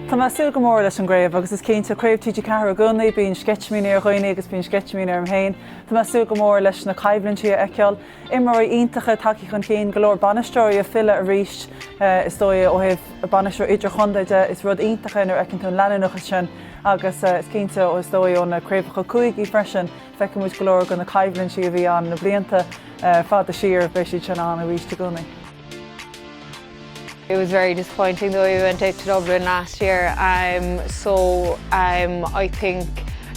Tá mé ag súil go mór leis an chraobh agus is cinnte, craobh TG4 i gcónaí, bíonn sceitimíní ar dhaoine agus bíonn sceitimíní orm féin. Tá mé ag súil go mór leis na coimhlintí a fheiceáil, imreoirí iontacha ag teacht chun cinn, go leor bainisteoirí ag filleadh arís. Is dóigh ó thaobh bainisteoir idirchontae de, is rud iontach é nuair a fheiceann tú an leanúnachas sin agus is cinnte, is dóigh ó na craobhacha cúigí freisin, Feiceann muid go leor de na coimhlintí a bhí ann na blianta fada siar, beidh siad sin ann arís i gcónaí. It was very disappointing though we went out to Dublin last year um, so um, I think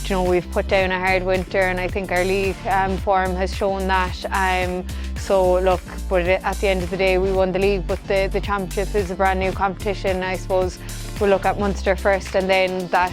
you know we've put down a hard winter and I think our league um, form has shown that um, so look but at the end of the day we won the league but the, the championship is a brand new competition I suppose we'll look at Munster first and then that